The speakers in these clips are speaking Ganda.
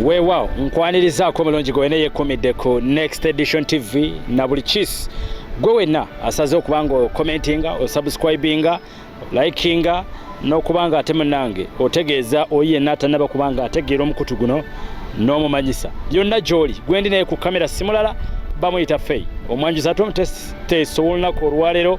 weewaawo nkwanirizaako omulungi gwe wena yekumidde ku next edition tv na buli kis gwe wenna asaze okuba nga okomentinga osubscribinga likinga n'okuba nga ate munange otegeeza oyi yenna atanaba kuba nga ategeera omukutu guno n'omumanyisa yonna gy'oli gwendi naye ku kamera simulala bamuyita fei omwanjuzi ate omuteesa ow'olunaku olwaleero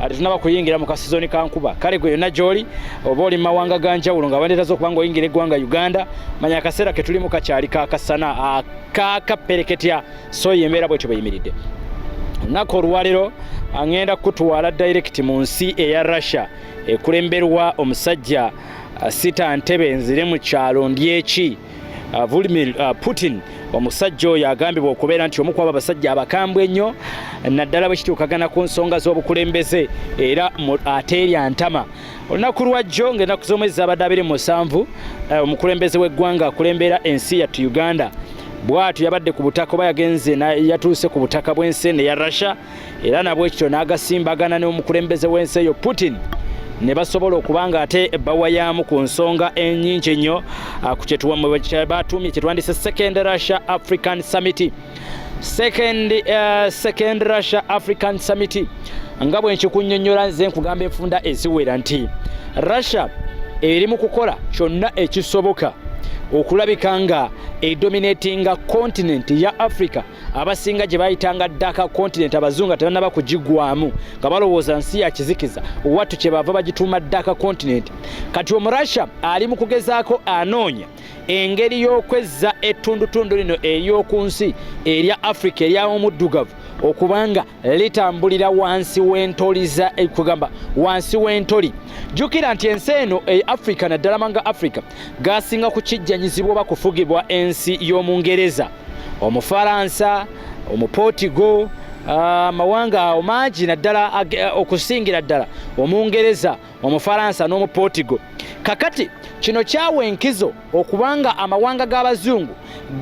ate tunaba kuyingira mu kasizoni ka nkuba kale gwe yonna gy'oli oba oli mu mawanga ga njawulo nga bandeetaza okuba nga oyingira eggwanga uganda manya akaseera ke tulimu kakyali kakasana akakappereketya so ye embeera bwetyo bweyimiridde olunaku olwaleero aŋenda kukutwala direct mu nsi eya russia ekulemberwa omusajja sita ntebe nzire mu kyalo ndyeki Uh, Vladimir uh, Putin omusajja oyo agambibwa okubeera nti omu kwabo abasajja abakambwe ennyo naddala bwe kituukagana ku nsonga z'obukulembeze era ateerya ntama olunaku lwajjo ng'ennaku z'omwezi zabadde abiri mu musanvu uh, omukulembeze w'eggwanga akulembera ensi yattu uganda bwatyo yabadde ku butaka oba yagenze yatuuse ku butaka bw'ensi eno eya russia era nabwekityo n'agasimbagana n'omukulembeze w'ensi eyo Putin ne basobola okuba nga ate bawayaamu ku nsonga enyingi ennyo ah, ku kyebatuumye kyetwandise second russia african summit second, uh, second russia african summit nga bwenkikunnyonnyola nze nkugamba enfunda eziwera nti russia eri mu kukola kyonna ekisoboka okulabika nga edominatinga kontinenti ya africa abasinga gye bayitanga ddaka kontinenti abazungu nga tebannaba kugigwamu nga balowooza nsi ya kizikiza wattu kye bava bagituuma ddaka kontinenti kati omurussia ali mu kugezaako anoonya engeri y'okwezza ettundutundu lino ery'oku nsi erya afirika ery'omuddugavu okubanga litambulira wansi w'entoli za eh, kugamba wansi w'entoli jjukira nti ensi eno e africa naddala manga africa gasinga kukijjanyizibwa oba kufugibwa ensi y'omungereza omufaransa omuportigo ah, amawanga awo mangi naddala eh, okusingira ddala omungereza Omufaransa n'Omuportigo. Kakati kino kyawa enkizo okubanga amawanga g'abazungu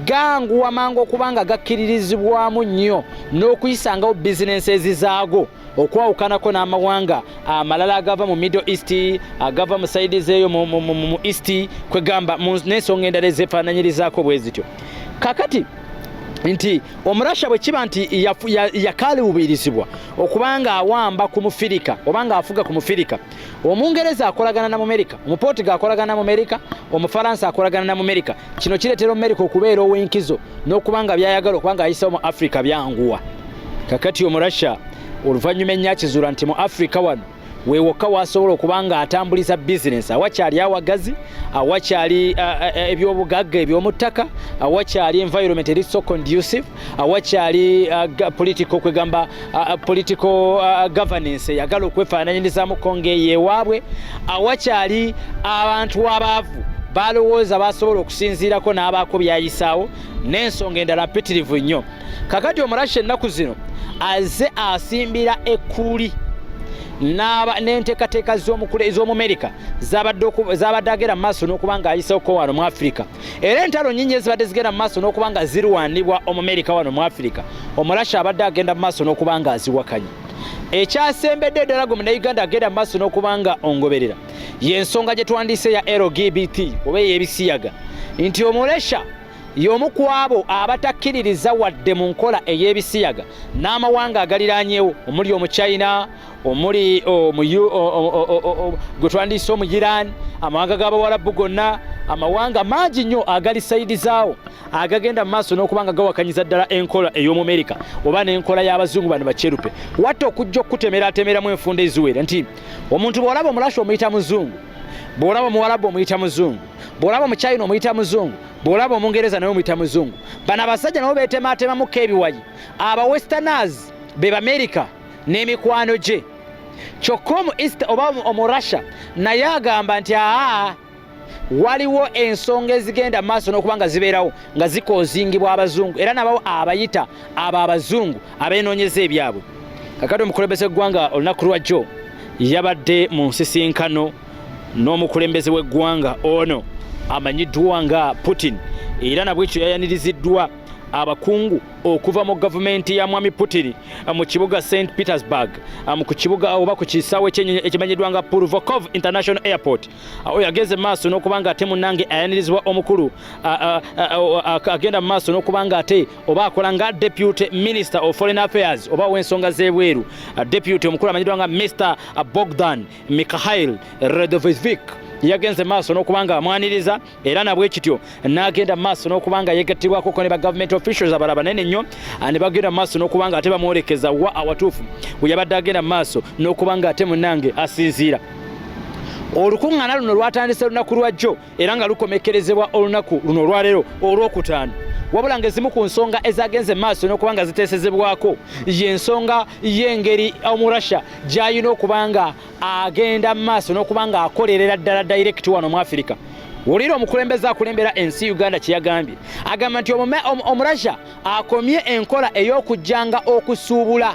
ganguwa mangu okubanga gakkiririzibwamu nnyo n'okuyisangawo bizinensi ezizaago okwawukanako n'amawanga amalala agava mu middle east agava mu saidi zeeyo mu east kwegamba n'ensonga endala ezefaananyirizaako bwe zityo kakati nti omurasha bwe kiba nti yakaluubirizibwa okuba nga awamba ku mufirika oba nga afuga ku mufirika omungereza akolagana na mumerika omuportiga akolagana na mumerika omufaransa akolagana na mumerika kino kireetera omumerika okubeera ow'enkizo n'okuba nga byayagala okuba nga ayisawo mu afrika byanguwa kakati omurasha oluvannyuma ennyo akizuula nti mu afrika wano we wokka wasobola okuba nga atambuliza bizinensi awakyali awagazi awakyali uh, uh, uh, ebyobugagga ebyomuttaka awakyali environment eri so conducive awakyali political kwegamba political governance eyagala okwefaananyirizamu konga eyo ewaabwe awakyali abantu abaavu balowooza basobola okusinziirako n'abaako byayisaawo n'ensonga endala mpitirivu nnyo kakati omurashi ennaku zino aze asimbira ekkuuli n'enteekateeka z'omumerika zabadde agera mu maaso n'okuba nga ayiseko wano mu afirika era entalo nyingi ezibadde zigenda mu maaso n'okuba nga zirwanibwa omumerika wano mu afirika omurashi abadde agenda mu maaso n'okuba nga aziwakanya ekyasembedde eddala gwe munauganda agenda mu maaso n'okuba nga ongoberera y'ensonga gye twandiise ya lgbt oba ey'ebisiyaga nti omuresha y'omu ku abo abatakkiririza wadde mu nkola ey'ebisiyaga n'amawanga agaliraanyewo omuli omuchina omuli gwe twandiyise omu iran amawanga g'abawalabu gonna amawanga mangi nnyo agali sayidi zaawo agagenda mu maaso n'okuba nga gawakanyiza ddala enkola ey'omumerika oba n'enkola y'abazungu bano bakyerupe watta okujja okukutemeratemeramu enfunda eziwera nti omuntu bw'olaba omulashi omuyita muzungu bw'olaba omuwalabu omuyita muzungu bw'olaba omukyayina omuyita muzungu bw'olaba omungereza naye omuyita muzungu bano abasajja nabo beetemaatemamuko ebiwayi aba westerners be bamerika n'emikwano gye kyokka omu east oba omu russia naye agamba nti aa waliwo ensonga ezigenda maaso n'okuba nga zibeerawo nga zikoozingibwa abazungu era nabawo abayita abo abazungu abeenoonyeza ebyabwe kakati omukulembeze eggwanga olunaku lwajjo yabadde mu nsisinkano n'omukulembeze w'eggwanga ono amanyiddwa nga putin era nabwekyo yayaniriziddwa abakungu okuva mu gavumenti ya mwami putin mu kibuga st petersburg mu ku kibuga oba ku kisaawe kyenyonyi ekimanyiddwa nga purvokov international airport awo yagenze maaso n'okuba nga ate munange ayanirizibwa omukulu agenda mu maaso n'okuba nga ate oba akola nga deputy minister of foreign affairs oba w'ensonga z'ebweru deputy omukulu amanyiddwa nga mr bogdan Mikhail Redovizvik yagenze maaso n'okuba nga amwaniriza era nabwe kityo n'agenda maaso n'okuba nga yegattibwako ko ne ba government officials abala banene nnyo ah, ne bagenda maaso n'okuba nga ate bamwolekeza wa awatuufu we yabadde agenda maaso n'okuba nga ate munange asinziira olukuŋŋaana luno lwatandise lunaku lwa jjo era nga lukomekkerezebwa olunaku luno olwaleero olwokutaano wabula ngaezimu ku nsonga ezagenze maaso nokuba nga ziteesezebwako yensonga yengeri omurussia gyalina okuba nga agenda maaso nokuba nga akolerera ddala direct wano mu afirika wulira omukulembeze akulembera ensi uganda kyeyagambye agamba nti omurussia akomye enkola eyokujjanga okusuubula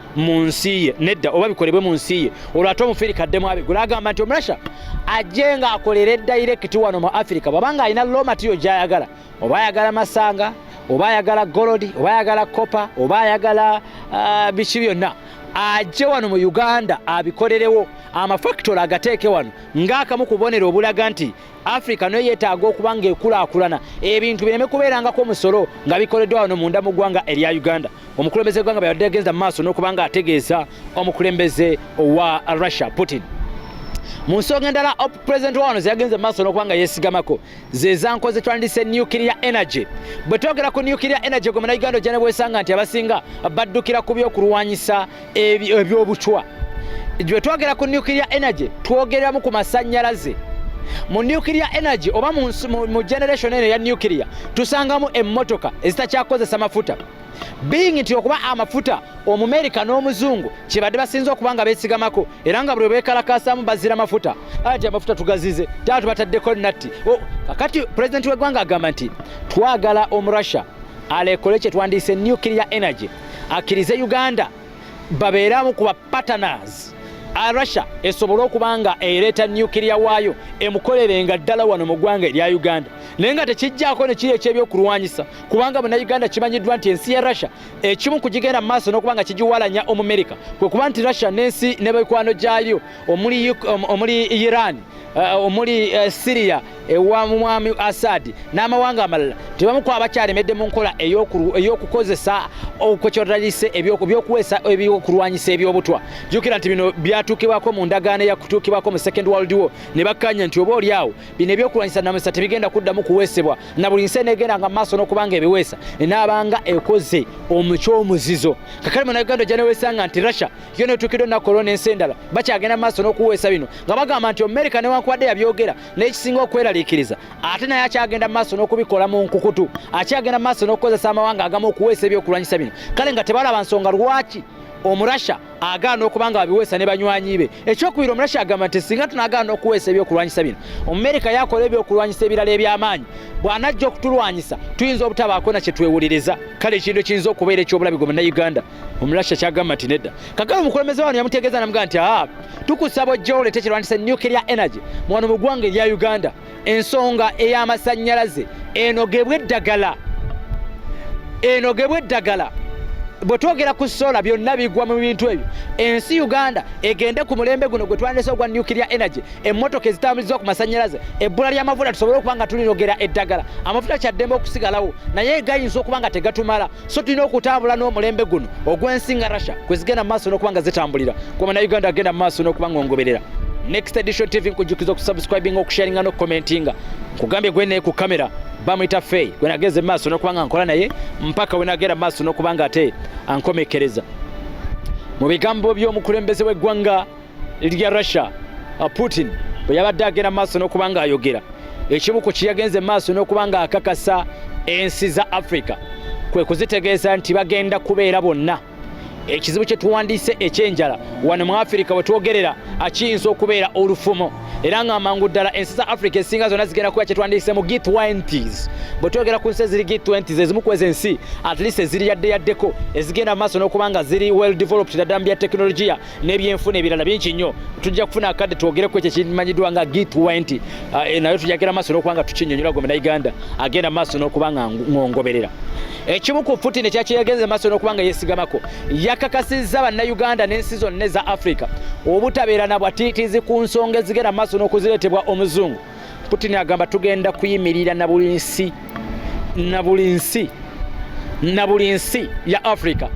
mu nsi ye nedda oba bikolebwe mu nsi ye olwo ate omufiri kaddemu abigula agamba nti omurasha ajje nga akolere dayirekiti wano mu afirika bwabanga alina lo matiyo gyayagala oba ayagala masanga oba ayagala golodi oba ayagala kopa oba ayagala uh, biki byonna ajje wano mu uganda abikolerewo amafakitole agateeke wano ngaakamu kubonera obulaga nti africa nayo yetaaga okuba nga ekulaakulana ebintu bireme kubeerangako omusolo nga bikoleddwa wano munda mu ggwanga erya uganda omukulembeze gwanga bweyabadde agenza mu maaso n'okuba nga ategeeza omukulembeze owa russia putin mu nsonga endala op president wawano zeyagenze maaso n'okuba nga yesigamako zezanko zetwandise nuclear energy bwe twogera ku nuclear energy gwe munauganda ojja ne bwesanga nti abasinga baddukira ku byokulwanyisa ebyobucwa gye twogera ku nuclear energy twogeramu ku masannyalaze mu nuclear energy oba mu generation eno eya nuclear tusangamu emmotoka ezitakyakozesa mafuta being nti okuba amafuta omumerika n'omuzungu kyebadde basinza okuba nga besigamako era nga buli bekalakaasamu bazira mafuta ati amafuta tugazize taa tubataddeko natti kakati pulezidenti w'eggwanga agamba nti twagala omurussia alekole kyetwandiise nuclear energy akkirize uganda babeeramu kuba partners a russia esobole okuba nga ereeta nuclear waayo emukolere nga ddala wano mu ggwanga erya uganda naye nga tekijjaako ne kiri ekyebyokulwanyisa kubanga munauganda kimanyiddwa nti ensi ya russia ekimu ku gigenda mu maaso n'okuba nga kigiwalanya omumerika kwe kuba nti russia n'ensi ne mikwano gyayo omuli omuli Iran eh, omuli eh, Syria ewa mwami Assad n'amawanga amalala tebamu ku abakyalemedde mu nkola ey'okukozesa okwekyotagise ebyokuweesa ebyokulwanyisa ebyobutwa jukira nti bino byatuukibwako mu ndagaano eyakutuukibwako mu second world war ne bakkanya nti oba olyawo bino ebyokulwanyisa namusa tebigenda kuddamu kuweesebwa na buli nsi eneegenda nga maaso n'okubanga ebiweesa enaabanga ekoze omuky omuzizo kakale mu nauganda gyaneweesanga nti russia yo netuukidde olunaku olwo n'ensi endala bakyagenda mu maaso n'okuweesa bino nga bagamba nti amerika newankubadde yabyogera n'ekisinga okweraliikiriza ate naye akyagenda mu maaso n'okubikola mu nkukutu akyagenda mu maaso n'okukozesa amawanga agamu okuweesa ebyokulwanyisa bino kale nga tebalaba nsonga lwaki omurasha agaana okuba nga babiweesa ne banywanyi be ekyokubiri omurasha agamba nti singa tunagaana okuweesa ebyokulwanyisa bino omumerika yakola ebyokulwanyisa ebirala eby'amaanyi bw'anajja okutulwanyisa tuyinza obutabaako na kye twewuliriza kale ekintu ekiyinza okubeera ekyobulabi gwe munnauganda omulasha kyagamba nti nedda kakala omukulembeze wano yamutegeeza namugaa nti aa tukusaba ojja oleta ekirwanyisa nuclear energy mwano mu ggwanga erya uganda ensonga ey'amasannyalaze enogebwa eddagala enogebwa eddagala bwe twogera ku sola byonna bigwa mu bintu ebyo ensi uganda egende ku mulembe guno gwe twandese ogwa nuclear energy emmotoka ezitambulizibwa ku masannyalaze ebbula ly'amafuta tusobole okuba nga tulinogera eddagala amafuta kyaddembe okusigalawo naye gayinza okuba nga tegatumala so tulina okutambula n'omulembe guno ogw'ensi nga russia kwe zigenda mu maaso n'okuba nga zitambulira kuba na uganda agenda mu maaso n'okuba nga ongoberera next edition tv nkujjukiza okusubscribinga okusharinga n'okukomentinga nkugambye gwe naye ku kamera bamuyita fey gwe nageze mu maaso n'okuba nga nkola naye mpaka we nagenda mu maaso n'okuba nga ate ankomekereza mu bigambo by'omukulembeze w'eggwanga lya Russia uh, Putin bwe yabadde agenda maaso n'okuba ng'ayogera ekimu ku kiyagenze maaso n'okuba ng'akakasa ensi za Africa kwe kuzitegeeza nti bagenda kubeera bonna ekizibu kye tuwandiise ekyenjala wano mu afirika we twogerera akiyinza okubeera olufumo era nga amangu ddala ensi za africa esinga zonna zigenda kuba kyetwandiise mu g20s bwe twogera ku nsi eziri g20s ezimu kwezi ensi at least eziri yadde yaddeko ezigenda mu maaso n'okuba nga ziri well developed daddala mu bya tekinologiya n'ebyenfuna ebirala bingi nnyo tujja kufuna akadde twogereko ekyo kimanyiddwa nga g20 ah, eh, nayo tujagera maaso n'okuba nga tukinyonyola gwe munauganda agenda maaso n'okuba nga ngongoberera ekimu ku putin ekyakiyagenze maaso n'okuba nga yesigamako yakakasizza bannauganda n'ensi zonna eza africa obutabeera na bwatiitizi ku nsonga ezigenda maaso n'okuzireetebwa omuzungu Putin agamba tugenda kuyimirira na buli nsi na buli nsi na buli nsi ya Africa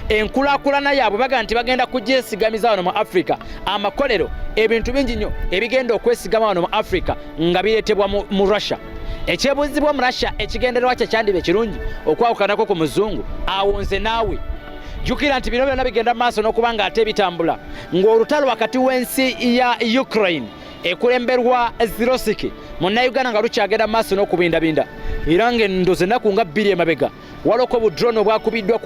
enkulakulana yaabwe baga nti bagenda kugyesigamiza wano mu Africa amakolero ebintu bingi nnyo ebigenda okwesigama wano mu Africa nga bireetebwa mu Russia ekyebuzibwa omu Russia ekigendererwa kye kyandiba ekirungi okwawukanako ku muzungu awo nze naawe jukira nti bino byonna bigenda mu maaso n'okuba nga ate bitambula ng'olutalo wakati w'ensi ya Ukraine ekulemberwa zirosiki munnayuganda nga lukyagenda maaso n'okubindabinda era ng'endozi ennaku nga bbiri emabega waloko budrone obwakubiddwa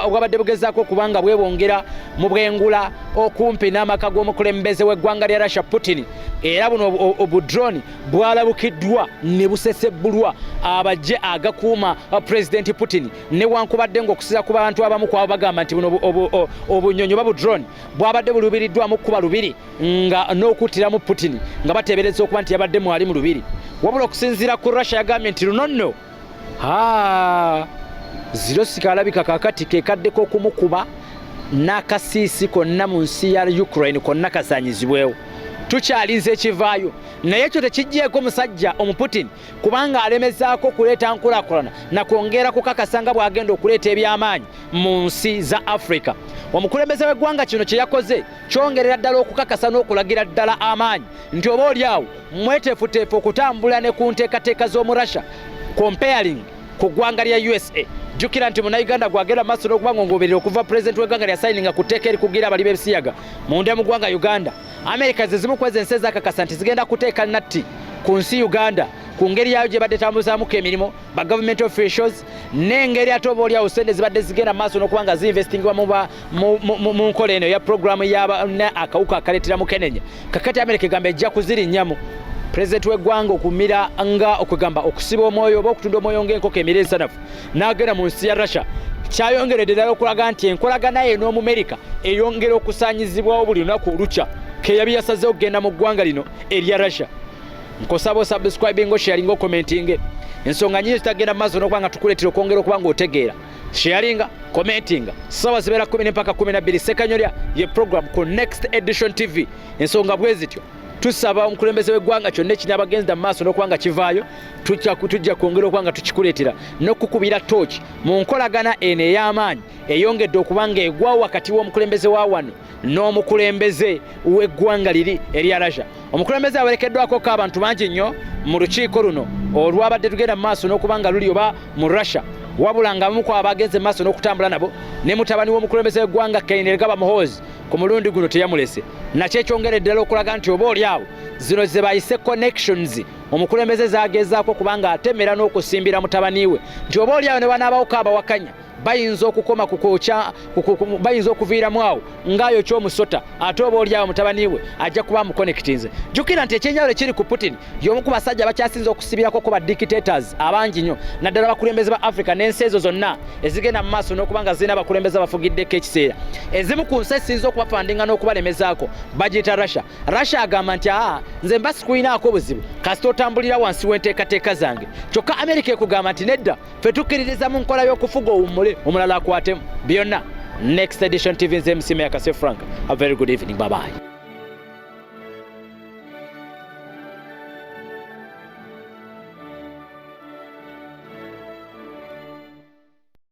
obwabadde bugezaako okubanga bwebongera mu bwengula okumpi n'amaka g'omukulembeze w'eggwanga lya russia putin era buno obudrone bwalabukiddwa ne busesebbulwa abajje agakuuma pulezidenti putin newankubadde ng'okusiza ku bantu abamu kwabo bagamba nti buno obunyonyi oba budrone bwabadde buluubiriddwamu kuba lubiri nga n'okuttiramu Putin nga bateebereza okuba nti yabadde mwali mu lubiri wabula okusinziira ku Russia yagambye nti luno nno ziro sikaalabika kakati kekaddeko okumukuba n'akasiisi konna mu nsi ya Ukraine konna kasaanyizibwewo tukyalinze ekivaayo naye ekyo tekijjeeko musajja omuputin kubanga alemezaako okuleeta nkulakulana nakwongera kukakasa nga bw'agenda okuleeta eby'amaanyi mu nsi za afrika omukulembeze w'eggwanga kino kye yakoze kyongerera ddala okukakasa n'okulagira ddala amaanyi nti oba oli awo mweteefuteefu okutambula ne ku nteekateeka z'omu russia comparing ku ggwanga lya usa jjukira nti munauganda gwagenda maaso n'okuba nga ongoberera okuva pulezidenti w'eggwanga lya sayininga ku tteeka erikugira abali b'ebisiyaga munda mu ggwanga uganda amerika ze zimu kwezi ensi ezakakasa nti zigenda kuteeka natti ku nsi uganda ku ngeri yaayo gye badde tambuzamuko emirimu ba government officials n'engeri ate oba olyawo sente zibadde zigenda maaso n'okuba nga ziinvestingibwa mu ba mu nkola eno eya pulogulaamu yabana akawuka akaleetera mukenenya kakati amerika egamba ejja kuzirinnyamu pulezidenti w'eggwanga okumira nga okwegamba okusiba omwoyo oba okutunda omwoyo ng'enkoko emira ensanafu n'agenda mu nsi ya russia kyayongeredde ddala okulaga nti enkolagana ye n'omumerika eyongera okusaanyizibwawo buli lunaku olukya keyabi yasazeho okugenda mu ggwanga lino erya russia nkusaba osubscribing osharinga okomentinge ensonga nyingi zitagenda mu maaso n'okuba nga tukuleetera okwongera okuba ng'otegeera sharinga commentinga sawa zibera 10 mpaka 12 sekanyolya ye program ku next edition tv ensonga bwezityo tusaba omukulembeze w'eggwanga kyonna ekiri abagenza mu maaso n'okuba nga kivaayo tujja kwongera okuba nga tukikuleetera n'okukubira tooki mu nkolagana eno ey'amaanyi eyongedde okuba nga egwawo wakati w'omukulembeze wa wano n'omukulembeze w'eggwanga liri erya Russia. Omukulembeze awerekeddwako ko abantu bangi nnyo mu lukiiko luno olwabadde tugenda mu maaso n'okuba nga luli oba mu Russia wabula nga abamu ku abagenze mu maaso n'okutambula nabo ne mutabani w'omukulembeze w'eggwanga Kainerugaba Muhoozi ku mulundi guno teyamulese nakyo ekyongera eddala okulaga nti oba oli awo zino ze bayise connections omukulembeze zagezaako kubanga atemera n'okusimbira mutabani we nti oba oli awo ne banaabawoko abawakanya bayinza okukoma kukokya bayinza okuviiramu awo ngaayo kyomusota ate oba olyawo mutabani we ajja kuba mukonekitinze jukira nti ekyenjawulo ekiri ku putin yomu ku basajja bakyasinza okusibirako ku ba dictators abangi nyo naddala abakulembeze ba africa n'ensi ezo zonna ezigenda mu maaso n'okuba nga zirina abakulembeze abafugiddeko ekiseera ezimu ku nsi esinza okubafandinga n'okubalemezaako bagiyita russia russia agamba nti aa nze mba sikulinaako buzibu kasita otambulira wansi w'enteekateeka zange kyokka amerika ekugamba nti nedda fe tukkiririza mu nkola y'okufuga owummule omulala akwatemu byonna next edition tv nze msima yakase frank a very good evening babayi